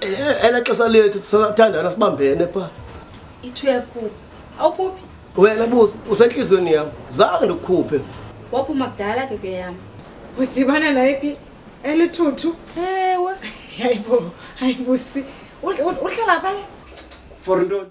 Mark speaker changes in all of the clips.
Speaker 1: Eh, ela xesha lethu sisathandana sibambene pha ithu
Speaker 2: yakhupha awuphuphi wena busi
Speaker 1: usentliziyweni yam zange ndikukhuphe waphuma kudala
Speaker 2: ke ke yam udibana
Speaker 3: nayiphi elithuthu ewe
Speaker 2: hayibo
Speaker 3: hayibusi uhlala phaye for ntoni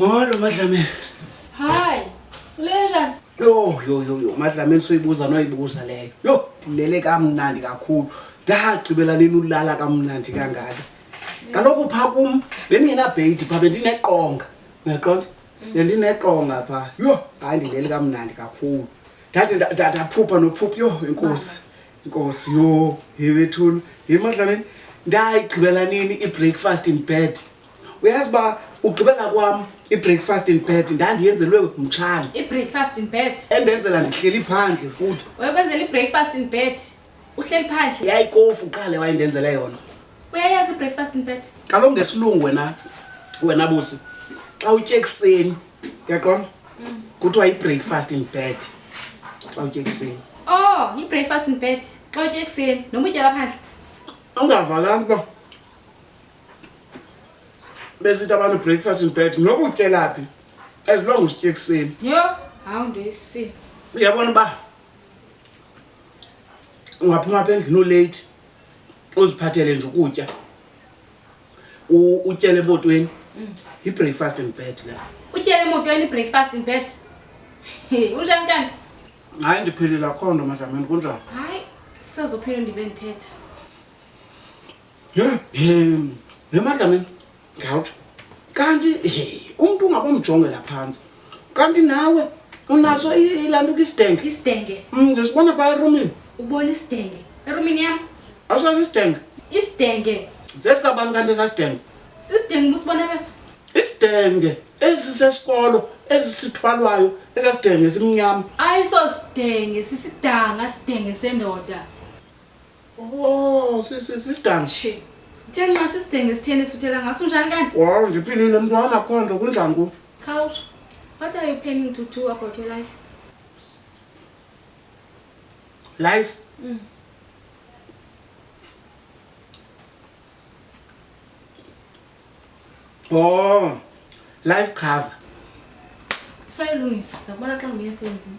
Speaker 4: Molo Madlamini. Hi.
Speaker 2: Ulenjani? Yo yo yo
Speaker 4: yo Madlamini soyibuza noyibuza leyo. Yo ndilele kamnandi kakhulu. Ndagqibela nini ulala kamnandi kangaka. Kaloku pha kum bendingena bait pha bendineqonga. Uyaqonda? Mm. Bendineqonga pha. Yo hayi ndilele kamnandi kakhulu. Ndade ndaphupha nophupha yo inkosi. nkosi yho yebethulu yemadlameni ndayigqibela nini ibreakfast in bed uyazi uba ugqibela kwam ibreakfast in bed ndandiyenzelwe mtshana ibreakfast in bed
Speaker 2: endenzela ndihleli
Speaker 4: phandle futhi wayekwenzela ibreakfast
Speaker 2: in bed uhleli phandle yayikofu uqale
Speaker 4: wayendenzela yona uyayazi ibreakfast
Speaker 2: in bed kaloku ngesilungu wena
Speaker 4: wena busi xa utye ekuseni uyaqonda mm. kuthiwa yi-breakfast in bed xa utye ekuseni o oh, yi-breakfast
Speaker 2: in bed xa utye ekuseni noma utyela phandle ungavalani
Speaker 4: uba besithi abantu breakfast in bed noba utyelaphi as long usitye ekuseni yho hawu nto
Speaker 2: esini uyabona uba
Speaker 4: ungaphuma apha endlini olate uziphathele nje ukutya utyela emotweni yi-breakfast mm. in bed le utyela emotweni
Speaker 2: i-breakfast in bed unjani kanti hayi ndiphilile
Speaker 4: akho nto madlameni kunjani hayi
Speaker 2: sisazophila ndibe ndithetha
Speaker 4: ye madlameni ngawutsho kanti umntu ungabomjongela phantsi kanti nawe unaso ilantuka isidenge isidenge mm, ndisibona
Speaker 2: phaa
Speaker 4: erumini ubona isidenge
Speaker 2: erumini yam awusaso isidenge
Speaker 4: isidenge
Speaker 2: zesikabani kanti
Speaker 4: esasidenge sisidenge busibona
Speaker 2: beso isidenge
Speaker 4: ezi sesikolo ezi sithwalwayo esasidenge simnyama ayiso sidenge
Speaker 2: sisidanga sidenge sendoda
Speaker 4: Oh, sisidanga. Shi.
Speaker 2: Theni ma sisidenge sitheni sithela ngaso unjani kanti? Wow, ngiphilile mntwana
Speaker 4: akho nto kunjani ku? Khawusho.
Speaker 2: What are you planning to do about your life?
Speaker 4: Life? Mm. Oh, life cover.
Speaker 2: Sayilungisa, sakubona xa ngibuye esebenzini.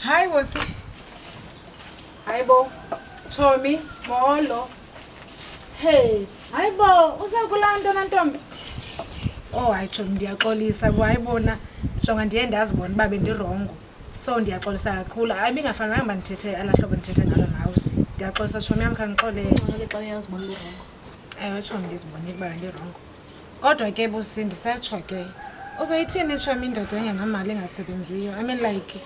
Speaker 3: Hi, Wosi. Hi, Bo. Chomi, Molo. Hey, hi, Bo. Uza kulanda na ntombi? Oh, hayi Chomi, ndiyaxolisa. Hayi bona, jonga ndiye ndazibona uba bendirongo. So ndiyaxolisa kakhulu. Hayi bingafanelanga uba ndithethe ala hlobo ndithethe ngalo nawe. Ndiyaxolisa Chomi yam khandixolele. Ngcono ke xa uyazibona
Speaker 2: urongo. Ewe Chomi
Speaker 3: ndizibonile uba bendirongo. kodwa ke busi ndisetsho ke uzoyithini itshomi indoda engenamali engasebenziyo i mean like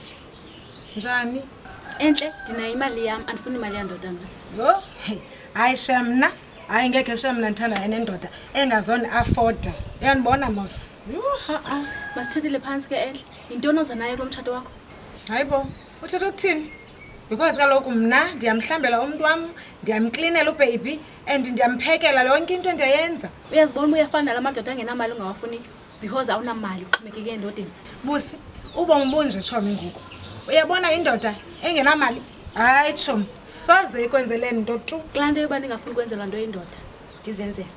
Speaker 3: njani entle
Speaker 2: ndinayo imali yam andifuni imali yandoda mna yho
Speaker 3: hayi sha mna hayi ngekhe sha mna ndithandayo nendoda engazoni afoda uyandibona mos
Speaker 2: masithethele phantsi ke entle yintoni oza nayo kulo mtshato wakho hayi bo
Speaker 3: uthetha ukuthini because kaloku mna ndiyamhlambela umntu wam ndiyamklinela ubhebi and ndiyamphekela yonke into endiyayenza uyazibona uba uyafana nala
Speaker 2: madoda angenamali ungawafuniyo because awunamali uxhomekeke endodeni busi
Speaker 3: ubomi bunje tshomi ngoku uyabona indoda engenamali hayi tshomi soze ikwenzele nto tu kulaa nto yoba ndingafuni
Speaker 2: ukwenzelwa nto indoda ndizenzela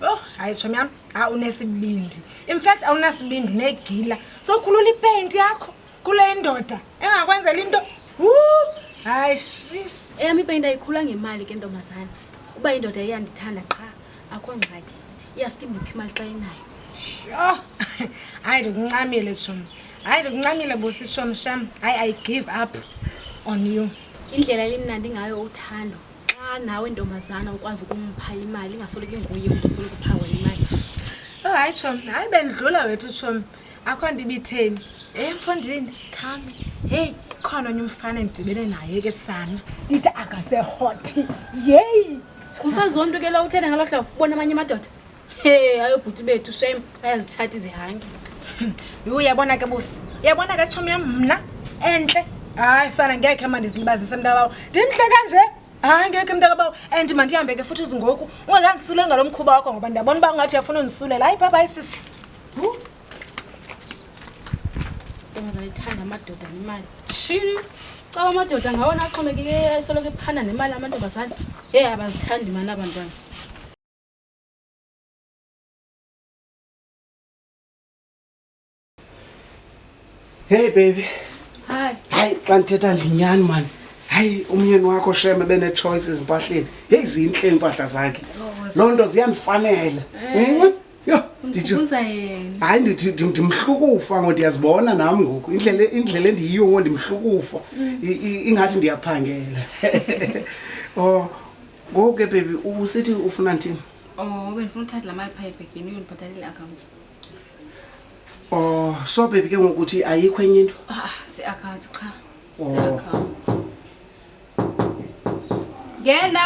Speaker 3: Oh, hayi tshomi yam, ha unesibindi. In fact awunasibindi unegila. Sokhulula ipaint yakho. kule indoda engakwenzela into hayi shis
Speaker 2: eyam ipeyinti ayikhula ngemali ke ntombazana uba
Speaker 3: indoda
Speaker 2: iyandithanda qha akho ngxaki iyaske ndiphi imali xa inayo sho
Speaker 3: hayi ndikuncamile tshom hayi ndikuncamile busi tshom sham hayi i give up on you indlela elimnandi
Speaker 2: ngayo uthando xa nawe ntombazana ukwazi ukumpha imali ingasoloko inguye umntu osoloko uphawe imali oh hayi
Speaker 3: tshom hayi bendidlula wethu tshom akho nto ibitheni e mfondini khami heyi khona onye umfana endidibene naye ke sana ndithi akasehothi yeyi ngumfazi wonto
Speaker 2: ke la uthetha ngalo hlobo bona amanye amadoda he ayobhuti bethu shem ayazitshati zihange yhu
Speaker 3: yabona ke busi yabona ke tshomi yam mna entle hayi sana ngekhe ma ndizilibazise mntabawo ndimhle kanje hayi ngekhe mntakabawo and mandihambe ke futhi izingoku ungekandisule ngalo mkhuba wakho ngoba ndiyabona uba ungathi uyafuna undisulela hayi bhabhayi sisi
Speaker 2: ndiyithanda amadoda nemali shiri caba amadoda ngawona axhomekeke esoloko ephanda nemali amantombazane ye abazithandi mani abantwana
Speaker 4: heyi baby hayi hayi
Speaker 2: xa ndithetha
Speaker 4: ndinyani mani hayi umyeni wakho sheme benechoice ezimpahleni heyi zintle iimpahla zakhe oh, loo nto ziyandifanela eh. yho Ndikhumbuza
Speaker 2: yena. hayi ndithi ndim-
Speaker 4: ndimhlukufa ngo ndiyazibona nam ngoku indlela indlela endiyiyo ngo ndimhlukufa I- i- ingathi ndiyaphangela o ngoku ke bebi usithi ufuna ndithini Oh, bendifuna
Speaker 2: uthatha la mali phaa ebhegini uyondibhatalela i-accounts. o
Speaker 4: so bebi ke ngoku uthi ayikho enye into Ah, si-accounts qha.
Speaker 2: Oh. Si-accounts. Ngena.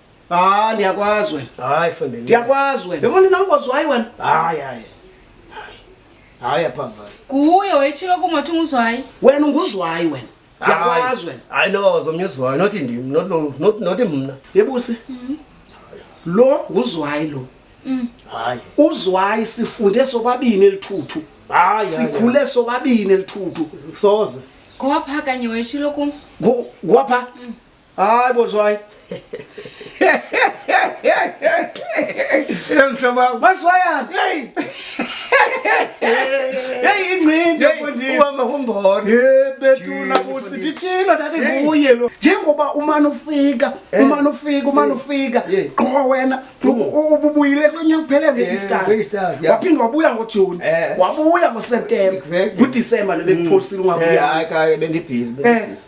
Speaker 4: Ah, ndiyakwazi wena. Hayi fondeni. Ndiyakwazi
Speaker 1: wena. Yabona
Speaker 4: inangozi wayi wena. Hayi hayi.
Speaker 1: Hayi aphazana. Kuye wayitshilo
Speaker 2: kumathi unguzwayi. Wena unguzwayi
Speaker 4: wena. Ndiyakwazi wena. Hayi no wazomnyuzwayi
Speaker 1: not ndim not lo not not mna. Yebusi.
Speaker 4: Mhm. Lo nguzwayi lo. Mhm. Hayi.
Speaker 1: Uzwayi
Speaker 4: sifunde sobabini elithuthu. Hayi. Sikhule
Speaker 1: sobabini
Speaker 4: elithuthu. Soze.
Speaker 1: Ngoba phakanye
Speaker 2: wayitshilo kum. Ngoba pha. Mhm.
Speaker 4: Hayi bozwayi.
Speaker 1: Yemhlaba. Bozwayani?
Speaker 4: Hey. Hey ingcindi yafundile. Uhamba kumbona. Hey
Speaker 1: bethuna
Speaker 4: kusi dithina thathe nguye lo. Njengoba umana ufika, eh. umana ufika, umana eh. ufika. Eh. Qho wena mm. ububuyile kulonya kuphele ngeStars. Waphinda wabuya ngoJune. Wabuya ngoSeptember. NgoDecember lobekuphosile mm. ungabuya. Hayi ka bendibhizi
Speaker 1: bendibhizi.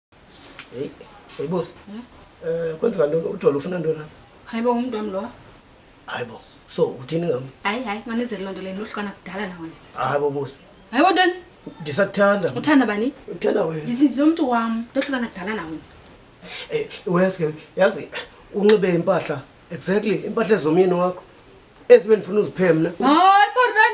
Speaker 1: Hey, hey boss. Hmm? Eh kwenzeka ntoni ujolo ufuna ntoni na? Hayibo umuntu wami lo.
Speaker 2: Hayibo.
Speaker 1: So uthini ngam? Hayi hayi manizele lonto
Speaker 2: leni uhlukana kudala nawe. Hayibo boss. Hayibo
Speaker 1: ntoni?
Speaker 2: Ndisakuthanda.
Speaker 1: Uthanda bani?
Speaker 2: Uthanda wena. Ndithi lo
Speaker 1: muntu wami
Speaker 2: ndohlukana kudala nawe. Eh uyazi
Speaker 1: yazi unxibe impahla exactly impahla ezomyeni wakho ezibe ndifuna uziphemna. Hayi for run.